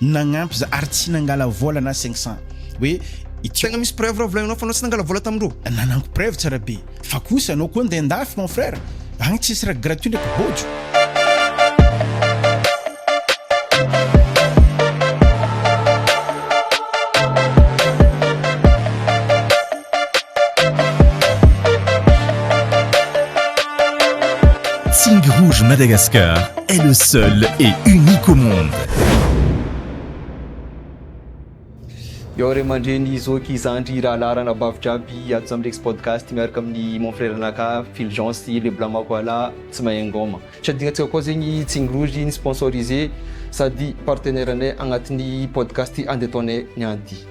nagnampy za ary tsy nangala vola na cinq cent hoe ity Tegna misy preuve raha volaninao fa anao tsy nangala vola tamin-dro. Nananko preuve tsara be fa kosa anao koa ndeha andafy mon frère agny tsisy raha gratuit ndraiky bôjo. Sing Rouge Madagascar est le seul et unique au monde. Yo ray aman-dreny zoky zandry rahalahy ranabavy jiaby ato Zamlex podcast miaraka amin'ny mon frère anakà Fulgence le blanc makoala tsy mahay ngoma. Shadinantsika koa zegny Tsing Rouge ni-sponsorisé sady partenaire anay agnatin'ny podcast andeha ataonay nianty.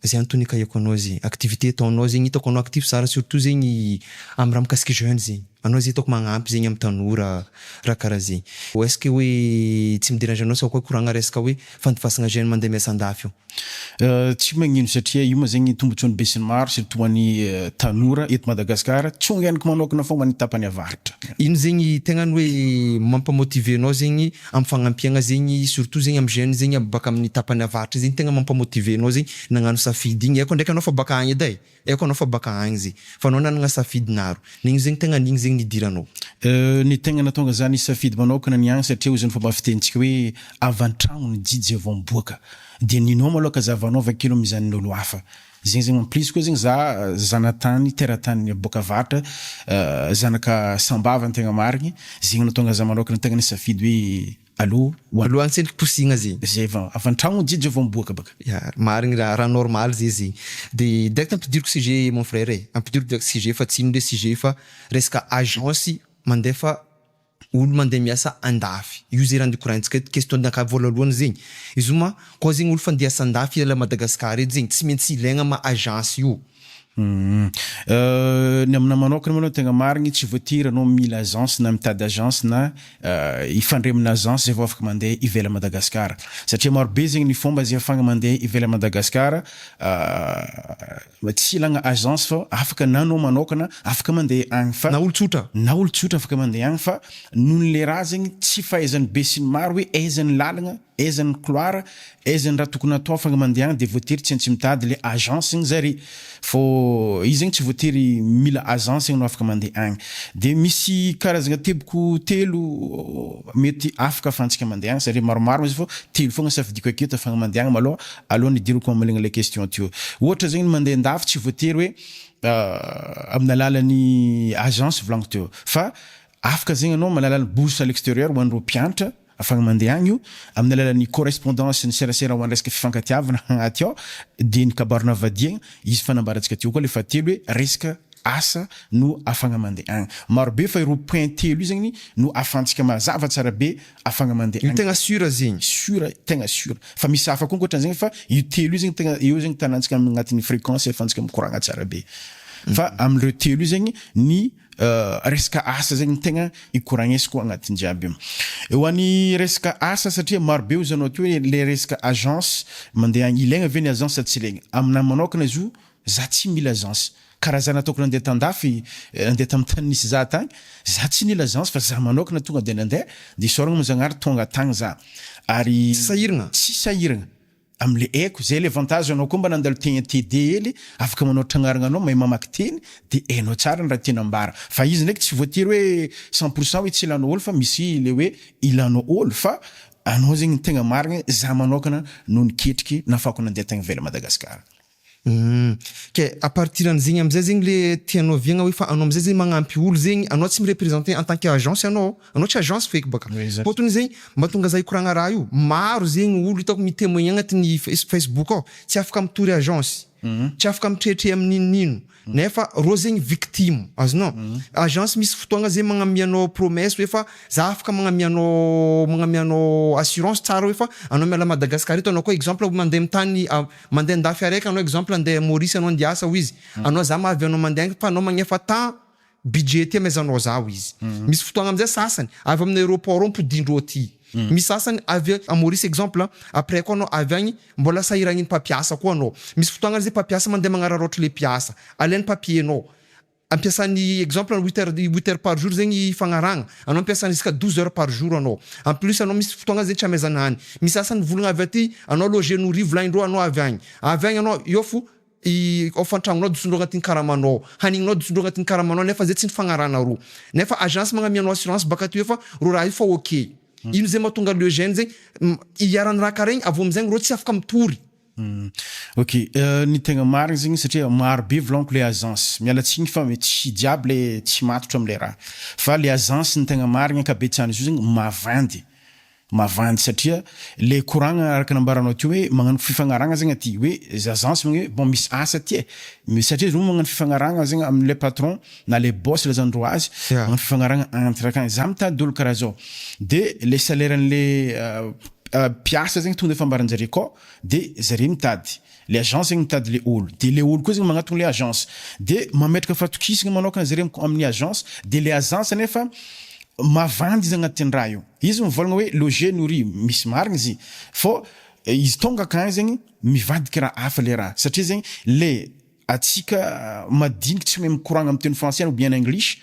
Zay antony ikahiko anao zay activité ataonao zegny hitako anao actif tsara surtout zegny am raha mikasiky jeune zegny anao zay hitako magnampy zegny am tanora raha karaha zay ou est-ce que hoe tsy mi derange anao sao koa koragna resaka hoe fandifasagna jeune mandeha miasa andafy ao? Tsy magnino satria io ma zegny tombotsoany besinimaro surtout ho an'ny tanora eto Madagasikara tsongainiko manokana foagna ny tapany avaratra. Ino zegny tegna ny hoe mampa-motiver anao zegny am fagnampiagna zegny surtout zegny am jeune zegny aby baka aminy tapany avaratra zegny tegna mampa motiver anao zegny nagnano safidy igny aiko ndraiky anao fa baka agny edy ai aiko anao fa baka agny zegny fa anao nanagna safidy naro nigny zegny tegna nigny zegny nidiranao. Ny tegna natonga zany safidy manaokana ny agny satria hoy zao ny fomba fitenintsika hoe avy antragno ny jijy vao miboaka dia ny nao maloha ka zahavanao avakeo no mizanon'olo hafa Zegny zegny en plus koa zegny za zanatany teratanin'ny boka avaratra zanaka sambava ny tegna marigny zegny natonga za manokana tegna nisafidy hoe aleo ho Alohan'ny tsy niposigna ze. Zay vao avy antragno jijo vao miboaka baka. Ya, marigny ra, ra normal ze zegny. De direct ampidiriko sujet mon frère e, ampidiriko direct sujet fa tsy ino le sujet fa resaka agence mandefa Olo mande miasa andafy io ze raha nikoraintsika eto question naka voalohalohany zegny izo ma koa zegny olo fa nde hiasa andafy hiala Madagascar eto zegny tsy mintsy ilaigna ma agence io. Ny aminah manokana malou tegna marigny tsy voatiry anao mila agence na mitady agence na hifandre amina agence zay vao afaka mande ivela Madagascar satria maro be zegny ny fomba ze afahagna mande ivela Madagascar Mba tsy ilagna agence fa afaka na anao manaokana afaka mandeha agny fa. Na olo tsotra. Na olo tsotra afaka mandeha agny fa noho ny le raha zegny tsy fahaizan'ny be sy ny maro hoe aiza ny lalagna, aiza ny couloir, aiza ny raha tokony atao afaka mandeha agny de voatery tsy aintsy mitady le agence igny zare fô izy zegny tsy voatery mila agence ianao afaka mandeha agny. De misy karazagna teboko telo mety afaka afahantsika mandeha agny satria maromaro izy fô telo fogna safidiako aketo afahagna mandeha agny malôha Aleo nidiriko aminy ilay question teo. Ohatra zegny mandeha an-dafy tsy voatery hoe amin'ny alalan'ny agence volagniky teo fa afaka zegny anao amin'ny alalan'ny bourse à l'extérieur ho an'ireo mpianatra afahagna mandeha agny io, amin'ny alalan'ny correspondance ny serasera ho an'ny resaka fifankatiavana agnaty ao dia ny kabarona vadiagna, izy fanambarantsika teo koa le fahatelo hoe resaka asa no afahagna mandeha agny. Marobe fa ireo point telo io zegny no ahafahantsika mazava tsara be afagna mande agny. Io tegna sur zegny. Sur tegna sur fa misy hafa koa ankoatran'izegny e fa io telo io zegny tegna eo zegny tanantsika agnatin'ny frequence ahafahantsika mikoragna tsara be fa am'ireo telo io zegny ny resaka asa zegny tegna ikoragnesiko agnatin'ny jiaby io e ho an'ny resaka asa satria maro be hoy zany ohatra hoe le resaka agence mande agny ilaigna ve ny agence sa tsy ilaigna aminahy manokana izy io Za tsy mila agence. Ka raha za nataoko nandeha tandafy nandeha tam tany nisy za tagny, za tsy nila agence fa za manokana tonga de nandeha, de isaoragna mo Zagnahary tonga tagny za. Ary Tsy sahiragna. Tsy sahiragna. Am le aiko, zay le avantage anao koa mba nandalo tegna TD hely, afaka manao tragnaragna anao, mahay mamaky teny, de hainao tsara ny raha tianao ambara. Fa izy ndraiky tsy voatery hoe cent pour cent hoe tsy ilanao olo fa misy le hoe ilanao olo fa anao zegny ny tegna marigny, za manokana no niketriky nahafahako nandeha tagny ivelan Madagascar. Humm. Ke à partir an'zegny amzay zegny le tianao viagna hoe fa anao amzay zegny magnampy olo zegny, anao tsy mi-representer en tant que agence anao, anao tsy agence feky baka. Fôtony zegny mahatonga za hikoragna raha io, maro zegny olo hitako mi-temoigner agnatin'ny face facebook ao tsy afaka mitory agence, tsy afaka mitretre amy n'inon'ino. Nefa rô zegny victime, azonao? Agence misy fotoagna zegny magnamia anao promesse hoe fa za afaka magnamia anao magnamia anao assurance tsara hoe fa anao miala Madagascar eto anao koa exemple mandeha amin'ny tany mandeha an-dafy araiky anao exemple andeha Maurice anao andeha hiasa hoy izy anao za mahavy anao mandeha any fa anao magnefa temps Budget ety maison noix aho izy. Misy fotoagna amizay sasany avy amina aeroport ao ampodindro ao aty. Misy sasany avy a Maurice exemple après koa anao avy agny mbola sahiragniny mpampiasa koa anao. Misy fotoagna ary zay mpampiasa mandeha magnararaotra le mpiasa. Alainy papier nao. Ampiasany exemple huit heures huit heures par jour zegny fagnaragna. Anao ampiasany jusqu'à douze heures par jour anao. En plus anao misy fotoagna zay tsy amezana hany. Misy sasany volagna avy aty anao loger nourri volagnindreo anao avy agny. Avy agny anao eo fo. I ao fantragnonao disondro agnatin'ny karamanao ao hanignonao disondro agnatin'ny karamanao ao nefa zay tsy nifagnarahana roa nefa agence magnamianao assurance baka aty hoe fa rô raha io fa ok ino zay mahatonga le gène zay hiharan'ny raha karaha igny avy eo amizay rô tsy afaka mitory Ok ny tegna marigny zegny satria maro be volagniko le agence miala tsigny fa tsy jiaby le tsy matotra amle raha fa le agence ny tegna marigny ankabetsahany izy io zegny mavandy Mavandy satria le koragna araka nambaranao teo hoe magnano fifagnaragna zegny aty hoe zazans magne bon misy asa aty e satria zao magnano fifagnaragna zegny amle patron na le boss lazaindreo azy magnano fifagnaragna entre akagny za mitady olo karaha zao de le salaire anle mpiasa zegny tonga de fambaranjare akao de zare mitady Le agence zegny mitady le olo de le olo koa zegny magnatogno le agence de mametraka fatokisagna manokana zareo am amin'ny agence de le agence anefa mavandy izy agnatin'ny raha io izy mivôlagna hoe loger nourris misy marigny izy i fô izy tônga akagny zegny mivadiky raha hafa le raha satria zegny le atsika madiniky tsy mahay mikoragna am teny français ou bien en english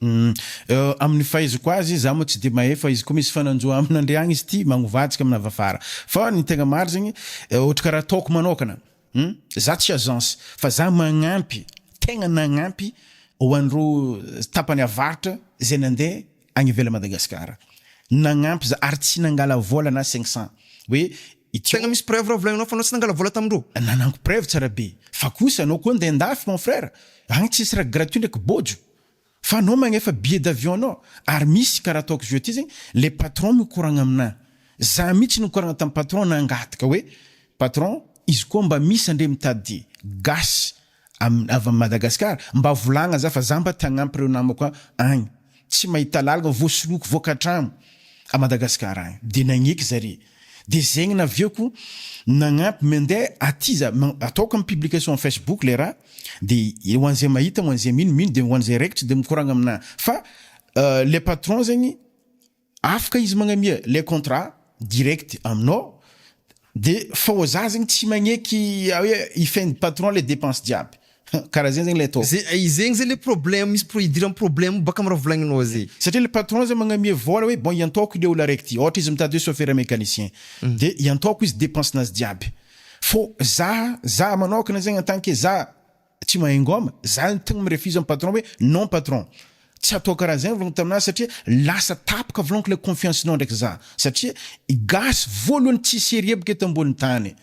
Humm amin'ny fahaizako azy, za moa tsy de mahay fa izy koa misy fananjo amin'andry agny izy ty magnovajika amina vavara fa ny tegna maro zegny ôhatra karaha ataoko manôkana humm za tsy agence fa za magnampy tegna nagnampy ho an'ireo tapany avaratra zay nande agny ivelany Madagascar nagnampy za ary tsy nangala vôla na cinq cent hoe Tegna misy preuve raha volagninao fa anao tsy nangala vôla tamindreo? Nananko preuve tsara be fa kosa anao koa andeha andafy mon frère agny tsisy raha gratuit ndraiky bôjo. Fa anao magnefa billet d'avion anao ary misy karaha ataoko zio aty zegny le patron mikoragna aminah zah mitsy nikoragna tam patron nangataka hoe patron izy koa mba misy andre mitady gasy am avy am Madagascar mba volagna zah fa zah mba te hagnampy reo namako agny tsy mahita lalagna voasoloiko voakatragny a Madagascar agny de nagneky zare Dia zegnina avy eo koa nagnampy mendeha aty za ma ataoko am publication facebook le raha de ho an'izay mahita ho an'izay mino mino de ho an'izay raikitra de mikoragna aminà fa le patron zegny afaka izy magnamia le contrat direct aminao de fô za zegny tsy magneky hoe hifehy patron le dépense jiaby. Karaha zegny zegny le atao. Ze zegny zay le problème misy pro idiran'ny problème baka am raha volagninao zay. Satria le patron zay magnamia vola hoe bon iantohako le olo araiky ty ohatra izy mitady hoe chauffeur mecanicien de iantohako izy depense nazy jiaby fô za za manokana zegny en tant que za tsy mahay ngôma za tegna mi-refuse am patron hoe non patron tsy atao karaha zegny vôlagna tamina satria lasa tapaka vôlagna le confiance nao ndraiky za satria gasy vôlohany tsy serieux bôka eto ambony tany.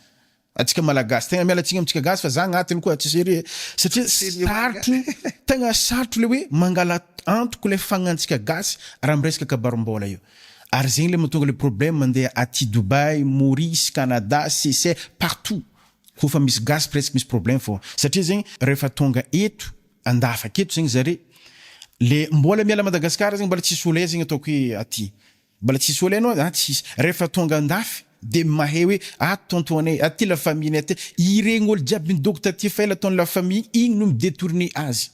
Antsika malagasy tegna miala tsiny amintsika gasy fa za agnatiny koa tsy serie satria sarotro tegna sarotro le hoe mangala antoko le fagnantsika gasy raha miresaka kabarim-bola io ary zegny le matonga le problème mandeha aty Dubaï, Maurice, Canada, Seychelles, partout ko fa misy gasy presque misy problème fô satria zegny refa tonga eto andafaka eto zegny zare le mbola miala Madagascar zegny mbola tsisy olé zegny ataoko hoe aty Mbola tsy nisy olana oa? An tsy hisy. Rehefa tonga andafy dia mahay hoe ato tontonay, aty la famille nay aty. Ireny ol jiaby nidoko taty fa ela ataony la famille iny no mi-detourne azy.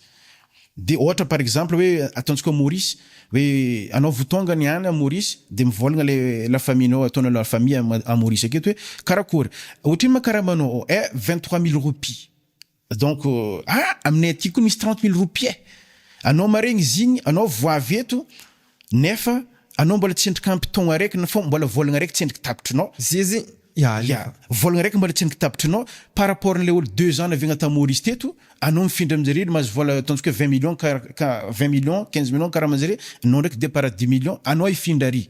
Dia ohatra par exemple hoe ataontsika ao Maurice hoe anao vo tonga ny any Maurice dia mivolagna le la famille nao ataonao la famille a Maurice aketo hoe karakory? Otrino ma karama nao? Eh vingt trois mille roupies. Donc a aminay aty koa misy trente mille roupies anao maregny izy igny anao vo avy eto nefa anao mbola tsendriky ampy taogna araiky na fô mbola vôlagna araiky tsendriky tapitrinao Zeze ya ya vôlagna araiky mbola tsendriky tapitrinao par rapport an'ilay olo deux ans naviagna tamy Maurice teto anao mifindra aminjareo le mahazo vôla ataontsika hoe vingt millions ka ka vingt millions quinze millions karaha manjare anao ndraiky depart dix millions anao hifindra ary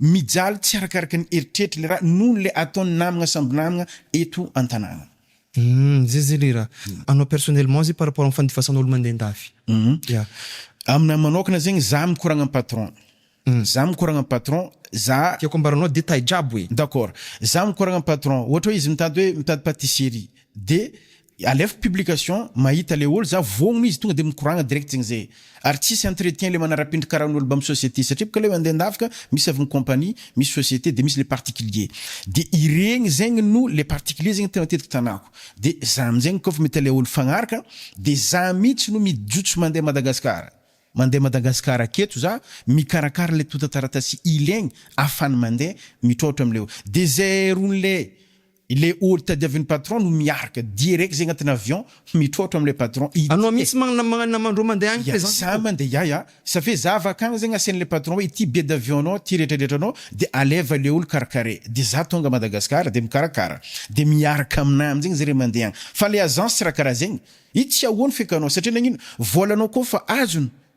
Mijaly tsy arakaraka ny eritreritry ilay raha noho ilay ataon'ny namagna samby namagna eto an-tanàna. Humm, zay zay le raha. Anao personnellement zay par rapport amin'ny fandifasanao olo mandeha an-dafy. Humm. Yeah. Aminahy manokana zegny za mikoragna am patron. Humm. Za mikoragna am patron, za. Tiako ambaranao détail jiaby hoe. D'accord. Za mikoragna am patron. Ohatra hoe izy mitady hoe mitady patisserie. Dia Alefa publication mahita le ol za voogno izy tonga de mikoragna direct zegny ze ary tsisy entretien le manarapindry karaha ny ol bam société satria boka le ande andavaka misy avy ny compagnie misy société de misy le particulier de iregny zegny no le particulier zegny tegna matetiky tanako de za amizegny kofa mahita le ol fagnaraka de za mitsy no mijotso mande Madagascar mande Madagascar aketo za mikarakara le tonta taratasy ilegny afany mande mitroatra amle ol de zay rony le Ilay olo tadiavin'ny patron no miarka direct zay agnatin'ny avion mitrôtro amin'ilay patron ity e! Anao mihitsy manamandroa mandeha agny présence ko! Iaza mandeha iahy a! Ça fait za avy akagny zegny asian'ilay patron hoe ity billet d'avion nao ty retradretra nao de aleva le olo karakare de za tonga Madagascar de mikarakara de miarka aminah amizegny zare mandeha agny fa le agence tsy raha karaha zegny i tsy ahoany fekanao satria nagnino volanao koa fa azony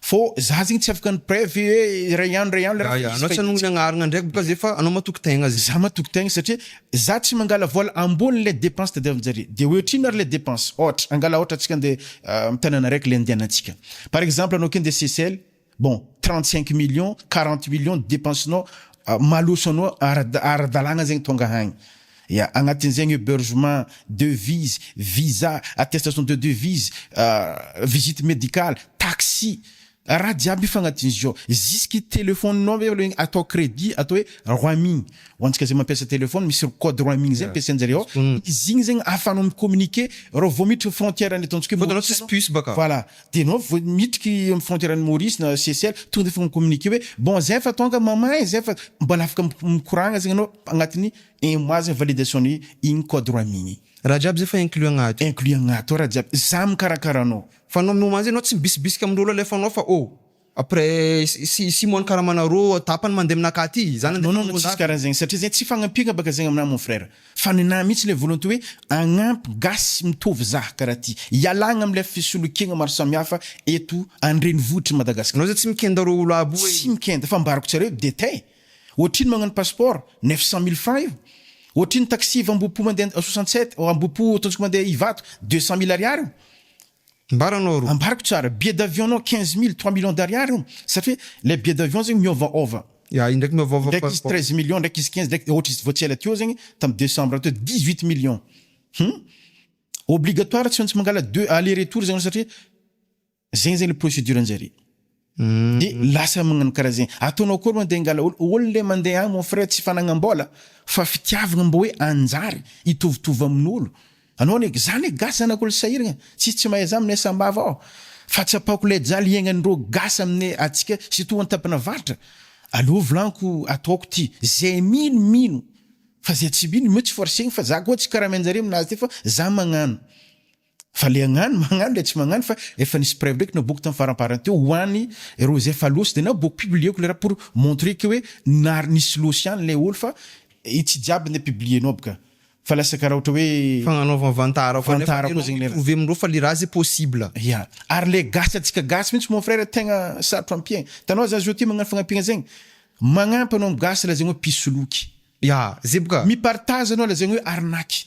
Fô za zegny tsy afaka ny preuve hoe iray andro iray andro Yah anao tsy anao niagnaragna ndraiky bôka zay fa anao matoky tegna zegny. Za matoky tegna satria za tsy mangala vôla ambony le depense tadiavinjare de oetrino ary le depense ôhatra angala ôhatra atsika ande am tanana araiky le andianantsika par exemple anao ke ande CCL bon trente cinq millions quarante millions depense nao maloso anao ara ara dalagna zegny tonga agny Ia, agnatin'izegny hebergement, devise, visa, attestation de devise, visite médicale, taxi, raha jiaby io fa agnatin'izy io ao, jusque telephone-nao ve aloha atao credit atao hoe roaming, ho antsika zay mampiasa telephone misy code roaming zay ampiasainjareo ao, izy igny zegny ahafahanao mi-communiquer raha vao miditra frontière ny ataontsika hoe, Fôntany ao tsisy puce bôka. Voilà, Dia ianao vao miditra eo amin'ny frontière an'i Maurice na Seychelles, tonga dia efa mi-communiquer hoe bon zay efa tonga, maman e, zay efa, mbola afaka mikoragna zegny anao agnatin'ny un mois zegny validation-n'ny igny code rois mille igny. Raha jiaby zay efa inclus agnaty. Inclus agnaty ao raha jiaby, za mikarakara anao. Fa anao mihomanjy anao tsy mibisibisika amin'olo alefanao fa oh! Après sy Simon kara manarô tapany mandeha aminà ka ty zany andeha non non tsisy kara zegny satria zegny tsy fagnampiagna baka zegny aminà mon frère fa nenà mitsy le volonté hoe agnampy gasy mitovy zaha kara ty ialagna amle fisolokiagna maro samihafa eto andrenivohitry Madagascar. Anao zay tsy mikenda reo olo aby io e. Tsy mikenda fa ambarako tsara eo de tay ohatrino magnano passeport neuf cent mille francs io ohatrino taxi avy ambohipo mandeha soixante sept ambohipo ataontsika mandeha ivato deux cent mille ariary io Ambaranao aro. Ambarako tsara. Billet d'avion nao quinze mille, trois millions d'ariary io, satria ilay billet d'avion zegny miôvaôva. Ya, indraiky miôvaôva passeport. Indraiky izy treize millions, indraiky izy quinze, indraiky ôhatra izy vao tsy ela teo zegny, tamin'ny decembre teo, dix huit millions. Hum. Obligatoire tsy maintsy mangala deux aller retour zany anao satria zegny zegny ilay procédure anjare. Dia lasa magnano karaha zegny. Ataonao akory mandeha hangala ol, ol le mandeha agny mon frère tsy fanagnam-bôla fa fitiavagna mbô hoe hanjary hitovitovy amin'olo. Anao anie, za anie gasy zanak'olo sahiragna, tsisy tsy mahay za aminay sambava ao. Fa tsapako lay jaly iaignagn'ireo gasy aminay antsika surtout antampanavaratra. Aleo volaniko ataoko ty, zay mino mino fa zay tsy mino meo tsy forcegny fa za koa tsy karaha amin-jare aminazy ty fa za magnano. Fa le agnano magnano le tsy magnano fa efa nisy preuve ndraiky naboako tam faramparany teo ho any reo izay fa losy de naboako publieko le raha pour montrer que hoe nary nisy losy ihany le olo fa i tsy jiaby nde publienao aby ka fa lasa karaha ohatra hoe Fagnanaovagna vantara koa nefa vantara koa enao zegny le mi-prouver amindreo fa le raha ze possible. Ya, ary le gasy antsika gasy mintsy mon frère tegna sarotro ampiagna, hitanao za zao ty magnano fagnampiagna zegny, magnampy anao am gasy lazaigny hoe mpisoloky, Ya, ze boka. mipartage anao lazaigny hoe arnaque.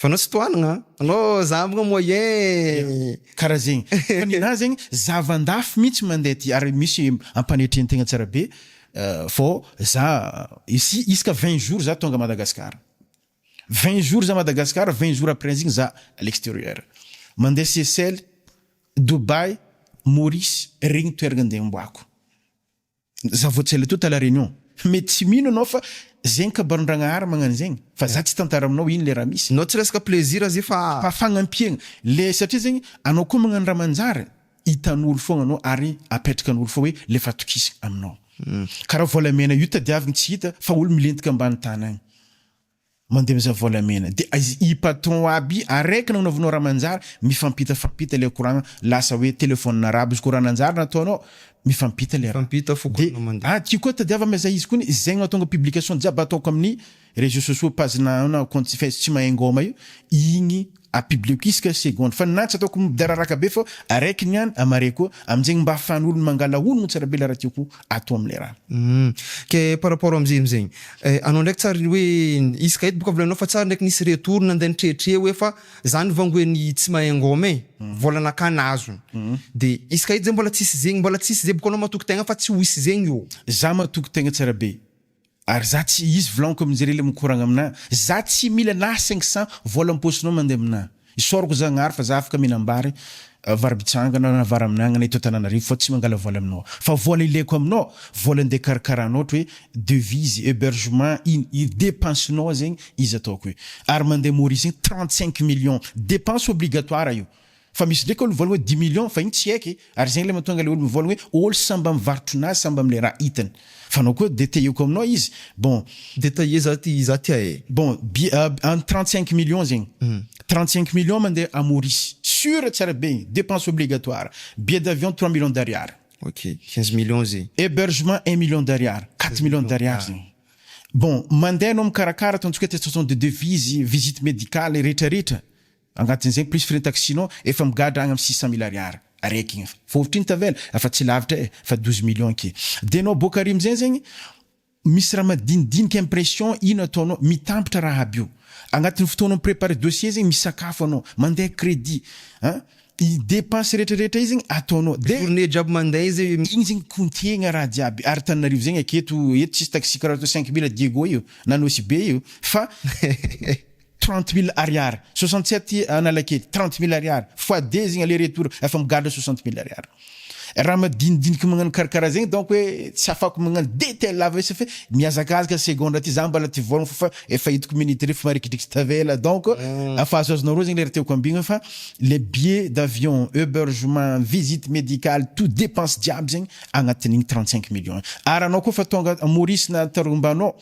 Fa anao tsy tohanagna an! Anao za mo moyen. Karaha zegny. Fa ninahy zegny zava-ndafy mintsy mandeha ty ary misy ampanetren tegna tsara be fô za ici isaka vingt jours za tonga Madagascar. Vingt jours za Madagascar vingt jours après zigny za à l'exterieur. Mandeha Seychelles, Dubaï, Maurice regny toeragna andeha amboako. Za vao tsy aletoa ta la reunion. Mety tsy mino anao fa zegny kabarin-dragnahary magnano zegny fa za tsy tantara aminao ino le raha misy. Nao tsy resaka plaisir ze fa. Fa fagnampiegna le satria zegny anao koa magnano raha manjary hitan'olo fogna anao ary apetrakan'olo fô hoe le fatokisagna aminao. Karaha volamena io tadiavigny tsy hita fa olo milentika ambany tany agny. Mandeha mizaha volamena de aiz i patron aby araiky nagnaovanao raha manjary mifampita fampita le koragna lasa hoe telephone arabo izy ko raha nanjary nataonao mifampita le raha Mifampita fo de koragna mandeha. aty koa tadiava mizah izy ko ny zegny mahatonga publication jiaby ataoko aminy reseaux sociaux page na na compte face tsy mahay ngaoma io igny A public isaka seconde fa na tsy ataoko midararaka be fa araiky ny an amare koa aminjegny mba afahan olo mangala honogno tsara be le raha tiako atao amle raha. Hum ke par rapport amze amzegny eh anao ndraiky tsary hoe isaka eto boka volaninao fa tsary ndraiky nisy retour nande nitretre hoe fa zany vao ngoe ny tsy mahay ngoma e vola nakana azony de isaka eto zay mbola tsisy zegny mbola tsisy zay boka anao matoky tegna fa tsy ho hisy zegny ô. Za matoky tegna tsara be. Ary za tsy hisy vlanko aminjare le mikoragna amina za tsy mila na cinq cent vola amposinao mande amina isaorako zagnahary fa za afaka minambary varibitsangana na varaminangana eto Antananarivo fa tsy mangala vola aminao fa vola ilaiko aminao vola ande karakaranao ohatry hoe devises hebergement ino ino depense nao zegny izy ataoko io ary mande Maurice igny trente cinq millions depense obligatoire io Fa misy ndraiky olo mivola hoe dix millions fa iny tsy haiko e! ary izay ilay mahatonga ilay olo mivola hoe ol samy mba mivarotra nazy samy mba amle raha hitany. Fa anao koa detailleko aminao izy bon. Detailler za ty za tia e. Bon an trente cinq millions zegny trente cinq millions mandeha à Maurice sur tsara be igny depense obligatoire billet d'avion trois millions d'ariary. Ok quinze millions ze. Hebergement un million d'ariary quatre millions d'ariary zegny bon mandeha anao mikarakara ataontsika hoe test de devise visite medicale retraretra. Angatin'izay plus frais taxi nao efa migadra agny am six cent mille ariary araiky igny fa fa ohatrino tavela afa tsy lavitra e fa douze millions ake de nao boaka ary amizay zegny misy raha madinidinika impression ino ataonao mitampitra raha aby io agnatin'ny fotoanao mi-preparer dossier zegny misakafo anao mandeha credit an i depense retraretra io zegny ataonao de Tourner jiaby mandeha izy e. Igny zegny kontiegna raha jiaby ary Tananarivo zegny aketo eto tsisy taxi karaha toa cinq mille Diego io na Nosy Be io fa. Trente mille ariary soixante sept analakely trente mille ariary fois deux zegny aller retour efa migadra soixante mille ariary raha madinidiniky magnano karakaraha zegny donc hoe tsy afako magnano detail lava isa fe mihazakazaka segondra ty za mbala ty vôlagna fa efa hitako minute refa marikidrikitry tavela donc afa azoazonao roa zegny le raha tiako ambigny fa le billet d'avion hebergement visite médicale tout depense jiaby zegny agnatin'igny trente cinq millions ary anao koa fa tonga à Maurice na Tarombano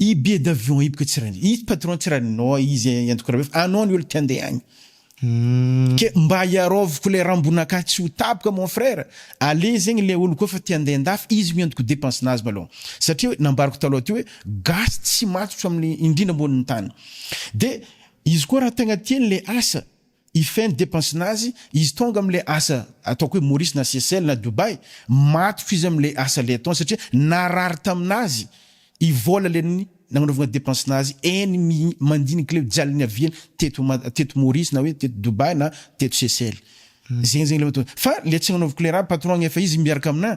I billet d'avion io bka tsy ran'i i patron tsy ran'i nao izy eh antoko rabe fa anao ny olo te andeha agny ke mba iaraoviko le rambon'akahy tsy ho tapoka mon frère aleo zegny le olo koa fa te andeha andafy izy miantoko depense nazy malôha satria hoe nambarako talôha teo hoe gasy tsy matotra amin'ny indrindra ambonin'ny tany de izy koa raha tegna tiany le asa Hifehy ny depense-nazy izy tonga amin'ilay asa ataoko hoe Maurice na Seychelles na Dubai, matotra izy amin'ilay asa ilay ataony satria narary tamin'azy i vol le ny nagnanaovagna depense-nazy eny mi mandinika ilay jaly niaviany teto ma teto Maurice na hoe teto Dubai na teto Seychelles zegny zegny le mahatonga fa le tsy agnanaovako le raha patron-gna efa izy miaraka aminà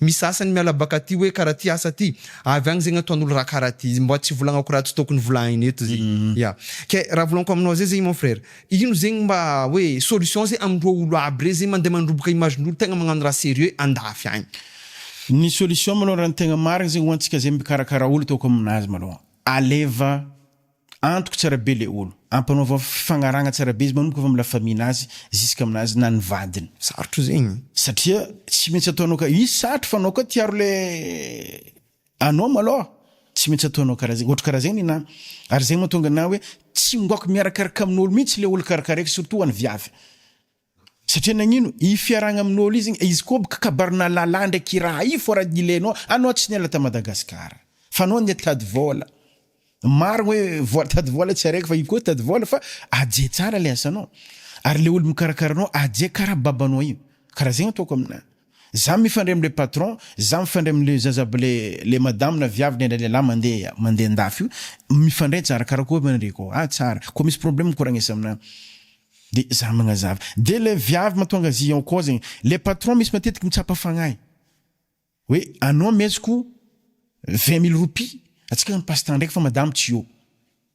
Misy sasany miala baka ty hoe kara ty asa ty, avy agny zegny ataon'olo raha kara ty, mba tsy volagnako raha tsy tokony volahigny eto ze, ya ke raha volanko aminao ze zegny mon frere, ino zegny mba hoe solution ze amindreo olo aby rey ze mande mandroboka imagen'olo tegna magnano raha serieux andafy agny. Ny solution malôha raha ny tegna marigny zegny ho antsika ze mikarakara olo ataoko aminazy malôha, aleva, Antoko tsara be le olo. Ampanaovao fifagnaragna tsara be izy manomboka avy am la famille nazy ziska aminazy na ny vadiny. Sarotro zegny. Satria tsy maintsy ataonao ka izy sarotro fa anao koa tiaro le anao malôha tsy maintsy ataonao karaha zegny ohatry karaha zegny nina ary zegny matonga ana hoe tsy ngoako miarakaraka amin'olo mintsy le olo karaha karaha eky surtout hoan'ny viavy. Satria nagnino? Hifiaragna amin'olo izy igny, izy koa bôka kabarina lalah ndray kiraha, io fô raha nilenao, anao tsy niala ta Madagascar fa anao anie tady vôla, marigny hoe vôla tady vôla tsy araiky fa io koa tady vôla fa aje tsara le asanao ary le olo mikarakara anao aje karaha babanao io, karaha zegny ataoko aminahy. Za mifandray amle patron, za mifandray amle zaza aby le le madame na viavy na ilay lehilahy mande mande andafy io mifandray tsara karakory ma ry koo ah tsara ko misy problème ko ra agnisa amina de za magnazava de le viavy matonga azy en cause igny le patron misy matetiky mitsapa fagnahy hoe anao ameziko vingt mille roupies atsika mi passe temps ndraiky fa madame tsy eo.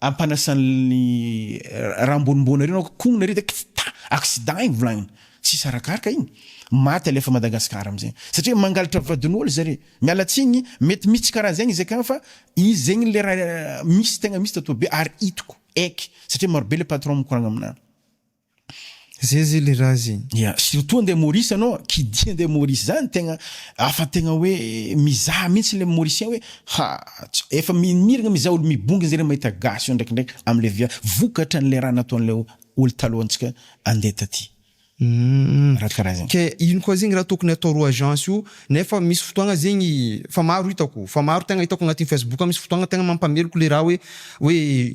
ampanasan'ny raha ambonimbony ary ianao kognona ary de kta accident igny volagniny tsisy arakaraka igny maty alefa Madagascar amzay satria mangalatra vadin'olo zare miala tsigny mety misy tsy karaha zegny izy akagny fa izy zegny le raha misy tegna misy tatobe ary hitako eky satria marobe le patron mikoragna amina. Zay zay le raha zay. Ya, surtout andeha Maurice anao, kidia andeha Maurice zany tegna afa tegna hoe mizaha mintsy le Mauricien hoe ha efa miragna mizaha olo mibongany zare mahita gasy eo ndraikindraiky amle via vokatra anle raha nataonle olo taloha antsika andeha taty. Hum, Raha karaha zegny. ke ino koa zegny raha tokony atao ro agence io nefa misy fotoagna zegny fa maro hitako, fa maro tegna hitako agnatin'ny facebook misy fotoagna tegna mampameloko le raha hoe hoe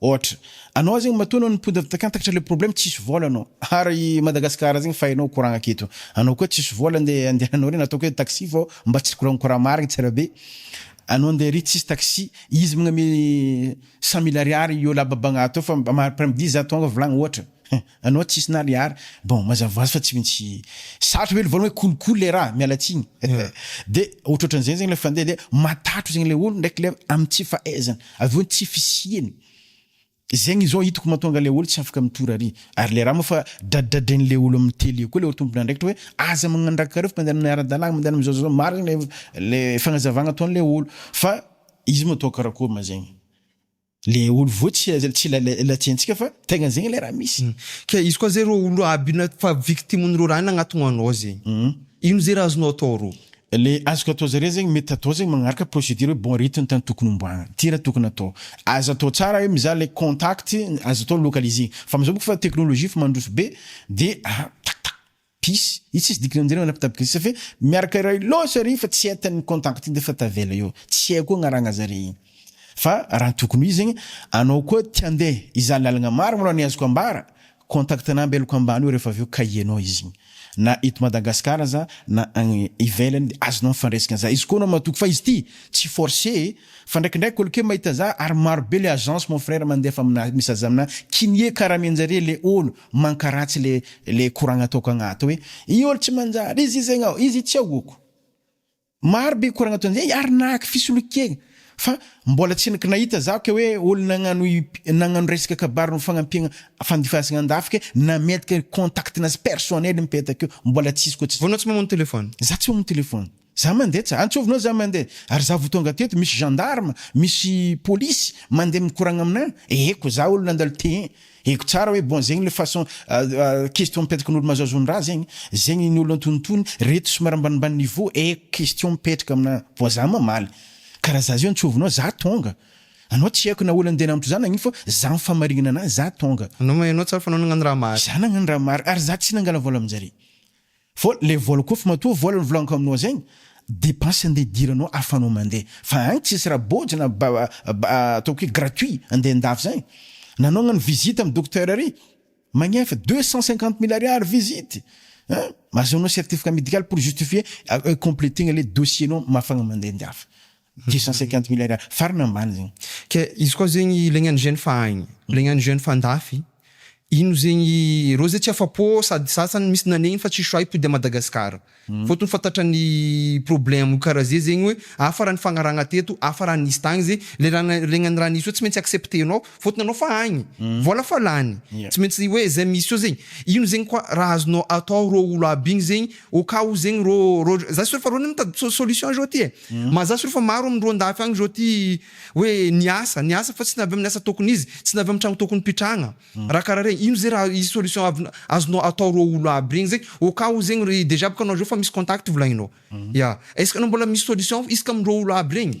Ohatra. Anao zegny matoa anao niponda takantakatra le problème tsisy vôla anao. Ary i Madagascar zegny fa hainao courant aketo. Anao koa tsisy vôla ande andehananao regny ataoko hoe taxi fô mba tsy courant courant marigny tsara be. Anao ande ary tsisy taxi. Izy magname cent mille ariary io lahy babagnahy tô fa après midi za tonga volagny ohatra. Anao tsisy na le ary bon mazava hoazy fa tsy mintsy sarotra ve le voalohany hoe kolikoly le raha miala tsiny de ohatrohatran'izegny zegny le fandeha de matatro zegny le olo ndraiky le amy tsy fahaizany avy eo tsy fisiany zegny zao hitako mahatonga le olo tsy afaka mitory ary ary le raha moa fa dradradren'le olo amy tele koa le olo tompon'andraikitra hoe aza magnandrakareo fa mandeha amin'ny ara-dalàgna mandeha amin'ny zao zao zao marigny le le fagnazavagna ataon'le olo fa izy moa atao karakôry ma zegny. Le olo voa tsy tsy ilay ilay tiantsika fa tegna zegny le raha misy. Ka izy koa zay rô olo aby na fa victimes reo raha nagnatogno anao zegny ino zay raha azonao atao rô? Le azoko atao zare zegny mety atao zegny magnaraka procedure hoe bon rythme tany tokony homboagna ty raha tokony atao aza atao tsara hoe mizaha le contact aza atao localiser fa amizao bôka fa technologie efa mandroso be de tac tac. Pisy, io tsisy dikany amin'izay le manapy tapy gris safe miaraka iray loatra re fa tsy entan'ny contact iny defa tavela eo, tsy hay koa agnaragna zare iny fa raha ny tokony ho izy zegny anao koa te hande hizaha lalagna maro malôha ny azoko ambara contact na ambelako ambany eo refa avy eo cahier nao izy igny na eto Madagascar aza na agny ivelany de azonao mifandresaka za izy koa anao matoky fa izy ty tsy force e fa ndraikindraiky olo ke mahita za ary maro be le agence mon frère mandefa amina message amina kinie karame njare le olo Mankaratsy le le koragna ataoko agnaty hoe i olo tsy manjary izy izy agnao izy i tsy ahoako maro be koragna ataony zay ary nahaky fisolokiagna fa mbola tsy ngnahita zaho ke hoe olo nagnano nagnano resaka kabary no fagnampiagna fandifasagna andafy ke nametka contact nazy personnel mipetaka eo mbola tsisy koa tsy Vao anao tsy mamono telephone? Za tsy mamono telephone. Za mandeha tsy antsovinao za mandeha ary za vo tonga teto misy gendarme misy polisy mandeha mikoragna amina eh ko za olona andalo tehin eko tsara oe bon zegny le façon question mipetrakan'olo mazaozon-draha zegny zegny ny olo antonotony reto somary ambanimbany niveau eh question mipetraka amina bon za mamaly karaha za zio antsovinao za tonga anao tsy aiko na olo andeha namotro za nagnino fa za mifamarignana anazy za tonga. Anao ma enao tsara fa anao nagnano raha mary. Za nagnano raha mary ary za tsy nangala vola aminjare Vol, le vol koa fa matoa vol ny volan-ko aminao zegny, depense andeha idiranao ahafahanao mandeha, fa any tsisy raha bôjy na ba ba ataoko hoe gratuit andeha andafy zegny, nanaognany visite amin'ny docteur ary magnefa deux cent cinquante mille ariary visite an, ahazoanao certificat médical pour justifier completer-gna le dossier-nao mahafahagna mandeha andafy, Deux cent cinquante mille ariary farany ambany zegny. Ke izy koa zegny ilaigny an'i jeune fa agny, ilaigny an'i jeune fa andafy, ino zegny, reo zay tsy afa-po sady sasany misy nanegny fa tsisy choix hipody à Madagascar. Fotony fantatran ny problème kara ze zegny hoe hafa raha ny fagnaragna teto, hafa raha nisy tagny ze, le raha nailegna ny raha nisy eo tsy maintsy acceptenao fotony anao fa agny, vola fa lany, tsy maintsy hoe zay misy eo zegny, ino zegny koa raha azonao atao reo olo aby igny zegny, Au cas où zegny rô, rô za sûr fa rô mitady solution izao ty e, mazà sûr fa maro amin-drô andafy agny izao ty hoe niasa, niasa fa tsy navy amin'ny asa tokony izy, tsy navy amin'ny tragno tokony pitrahagna, raha karaha regny, ino zay raha hisy solution avin- azonao atao rô olo aby regny zegny, au cas où zegny re, déjà bôka anao zao fa misy contact volagninao, ya, est-ce que anao mbola misy solution isaka amin-drô olo aby regny?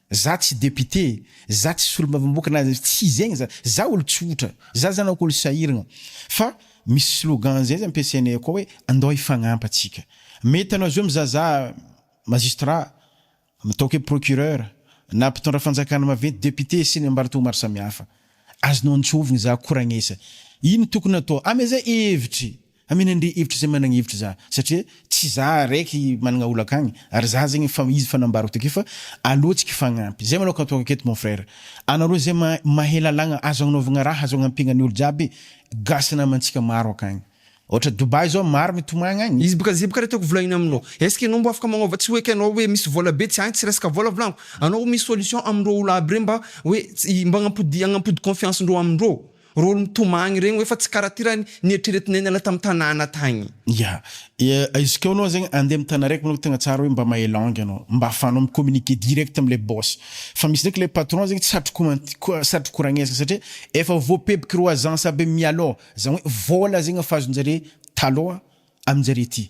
Za tsy député, za tsy solombavamboka na tsy zegny za, za olo tsotra, za zany oko olo sahiragna fa misy slogan zay zany ampiasainay akao hoe andao hifagnampa atsika, mety anao zao mizaha za magistrat, ataoko hoe procureur, na mpitondra fanjakana maventy, député sy ny ambaratonga maro samihafa, azonao antsovigny za ko ragnesa, ino tokony atao, amezay hevitry, Amen Andri hevitra izay managna hevitra za satria tsy za raiky managna olaka agny ary za zegny fa izy fa nambarako takeo fa aleo tsika hifagnampy zay manao katoako aketo mon frère anareo zay ma mahay lalagna azo agnanaovagna raha azo agnampiagna ny olo jiaby gasy namantsika maro akagny ôhatra Dubai zao maro mitomagna agny. Izy boka zay boka le tiako volahina aminao est-ce que enao mba afaka magnova tsy hoeky anao hoe misy vola be tsy ahy tsy resaka vola volagno anao misy solution amindreo olo aby reo mba hoe tsy mba agnampody agnampody confiance ndreo amindreo Rôly mitomagny regny oe fa tsy kara ty raha nieritreretinay niala tam tanàna tagny. Ya, izy ko anao zegny andeha am tana raiky manko tegna tsara hoe mba mahay langue anao mba afahanao mi communiquer direct amle boss fa misy ndraiky le patron zegny tsy satry ko satry koragnesana satria efa voapebiky ro agence aby mialoha zany hoe vola zegny efa azonjare taloha aminjare ty.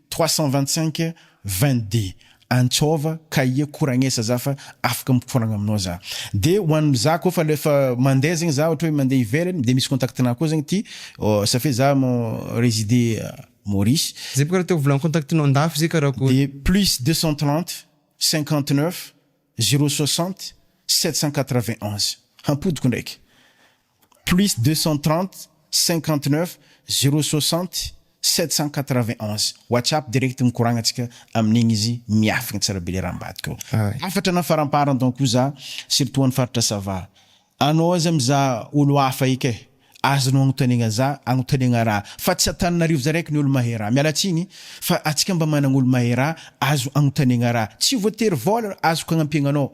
trois cent vingt cinq vingt deux Antsôva cahier koragnesa za fa afaka mikoragna aminao za de ho an'ny za koa fa lefa mandeha zegny za ohatra hoe mandeha ivelany de misy contact nao koa zegny ty ça fait za mon reside Maurice. Zay bôka raha te ho volan'ny contact nao andafy zay karakôry. De plus deux cent trente cinquante neuf zero soixante sept cent quatre vingt onze hampodiko ndraiky Plus 230 59 060 791 WhatsApp direct mikoragna tsika amin'igny izy miafigny tsara be le raha ambadika ao. Hafatra na faramparan don ko za surtout any faritra sava anao aza mizaha olo hafa eka e azonao agnotanegna za agnotanegna raha fa tsy Antananarivo za raiky ny olo mahay raha miala tsiny fa atsika mba managna olo mahay raha azo agnotanegna raha tsy voatery vola azoko agnampiagna anao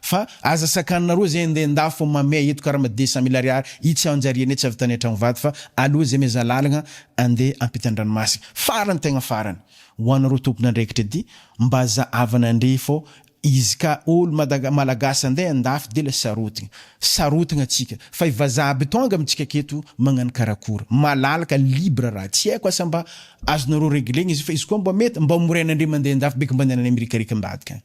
Fa aza sakanina roa zay ndeha nda fo mamea eto karama dix cent mille ariary itsy anjariana etsy avy tany antragno vato fa aleo zay meza lalagna andeha ampitandranomasina farany tegna farany ho anareo tompon'andraikitra edy mba zahavana ndry fô izy ka olo madaga malagasy andeha andafy de la sarotiny sarotagna tsika fa i vazaha aby tonga amitsika aketo magnano karakôry malalaka libre raha tsy aiko asa mba azonareo reglegna izy io fa izy koa mba mety mba moraina ndry mandeha andafy beky mba andehananay mirikarika ambadika agny.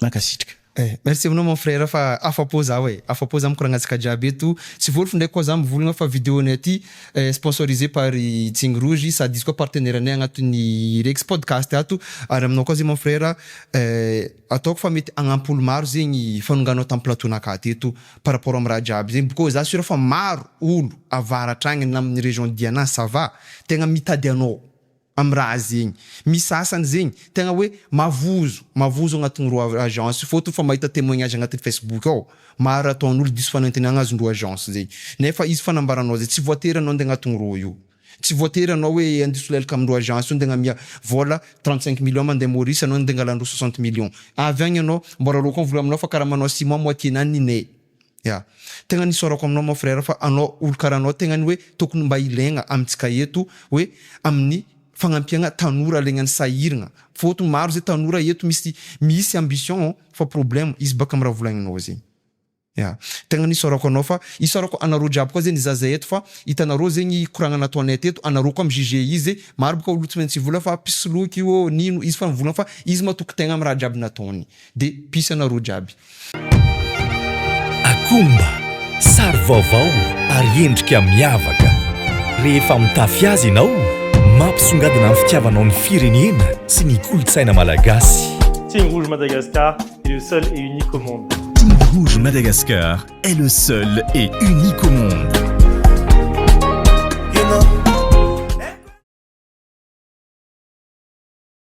Mankasitrka eh. Merci aminao mon frère fa afapo zaho eh. Afapo zaho mikoragna antsika jiaby eto. Tsy volofo ndray koa zaho mivolagna fa vidéo nay aty eh sponsorisé par i Tsigny Rouge sady izy koa partenaire nay agnatin'ny Rex Podcast ato. Ary aminao koa zay mon frère eh ataoko fa mety agnampy olo maro zegny fanonganao tam plateau naka teto par rapport am raha jiaby zegny bkô za sûr fa maro olo avaratra agny na amin'ny région Diana ça va tegna mitady anao. am raha zegny. Misy sasany zegny tegna hoe mavozo, mavozo agnatigny rô agence fôtony fa mahita temoignage agnatigny facebook ao, maro ataon'olo diso fanantenagna azony rô agence zegny. Nefa izy fanambaranao zay tsy voatery anao ande agnatigny rô io. Tsy voatery anao hoe ande solelaka am rô agence io ande agnamia vôla trente cinq millions mande Maurice anao ande angalan-drô soixante millions. Avy agny anao, mbôla rôko am vola aminao fa karaha manao ciment moitié-nany ny nay. Ya. Tegna ny isaorako aminao mon frère fa anao olo karaha anao tegna ny hoe tokony mba ilaigna amintsika eto hoe amin'ny fagnampiagna tanora alaigna ny sahiragna fôtony maro zay tanora eto misy misy ambition fa problème izy baka am raha volaigninao zegny. Ya. Tegna ny isaorako anao fa isaorako anareo jiaby koa zegny za zay eto fa itanareo zegny koragna nataonay teto anareo koa mi juger izy maro baka olo tsy maintsy hivola fa mpisoloky ô nino izy fa nivolagna fa izy matoky tegna am raha jiaby nataony Dia peace anareo jiaby. Akomba, sary vaovao ary endrika miavaka. Rehefa mitafy azy ianao, mampisongadina ny fitiavanao ny firenena sy ny kolontsaina malagasy. Team Rouge Madagascar est le seul et unique au monde. Team Rouge Madagascar est le seul et unique au monde.